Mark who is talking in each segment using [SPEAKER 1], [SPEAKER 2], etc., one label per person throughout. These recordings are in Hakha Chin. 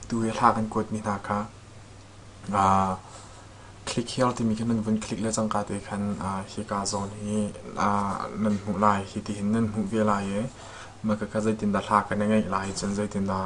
[SPEAKER 1] Tu hi hla kan kuatmi hna kha Click Here timi khi nan vun click le cangka te khan hika zawn hi nan hmuh lai. Hi ti hin nan hmuh ve lai i, maka kha zeitindah hla kan i ngaih lai cun zeitindah...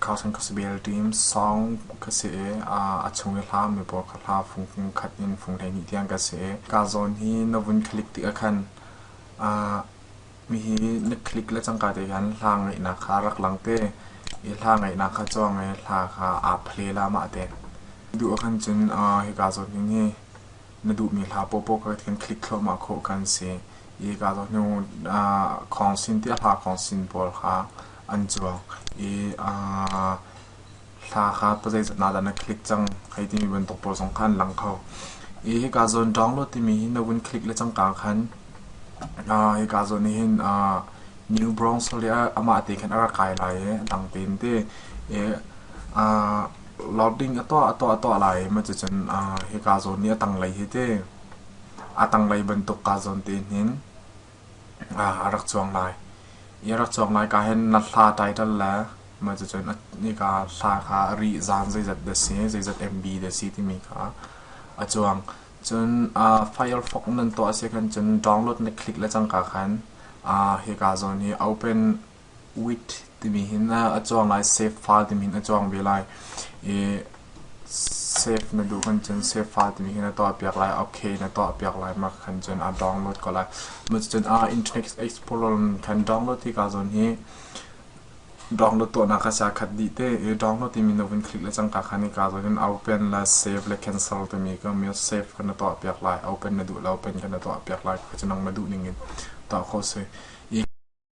[SPEAKER 1] Kha chan ka si bel ṭim. Song ka si i a chung i hla mi pawl kha hla fungfung khat in fung hleihnih tiang ka si i ka zawn hi na vun click tik ah khan mihi na click le cangka te khan hla ngaihnak kha rak lang te i hla ngaihnak kha cuang i hla kha aa phle la mah te duh ah khan cun hi ka zawn hin hi na duhmi hla popo ka khan click thluahmah khawh kan si i ka zawn hnu khong sin ti a hla khong sin pawl kha an cuang i aa hla kha zeizat na dah na click cang hei timi bantuk pawl zong kha an lang kho i hika zawn download timi hi na vun click le cangka khan uh, hika zawn nih hin uh, new bronx le amah te khan a ra kai lai e dang tein te e uh, loading ato ato ato lai ma chu cun uh, hika zawn ni a tang lei hi te a tang lei bantuk ka zawn te hin a rak cuang lai. I a rak cuang lai ka hin na hla title le mah cucun nika hla kha rih zaan zeizat dah si, zeizat MB dah si timi kha a cuang. Cun Firefox nan tuah si khan cun download na click le cangka khan hika zawn hi open wheat timi hi na a cuang lai save fa timi hi na cuang ve lai i save na duh khan cun save fa timi hi na tuah piak lai okay na tuah piak lai mah khan cun aa download ko lai macu cun aa internet explorer khan download hi kaa zawn hi download tuah nak kha sia khat dih te i download timi na vun click le cangka khan i kaa zawn hin open la save le cancel timi ka mi save ka na tuah piak lai open na duh la open ka na tuah piak lai kha cun nang ma duh ning in tuah kho si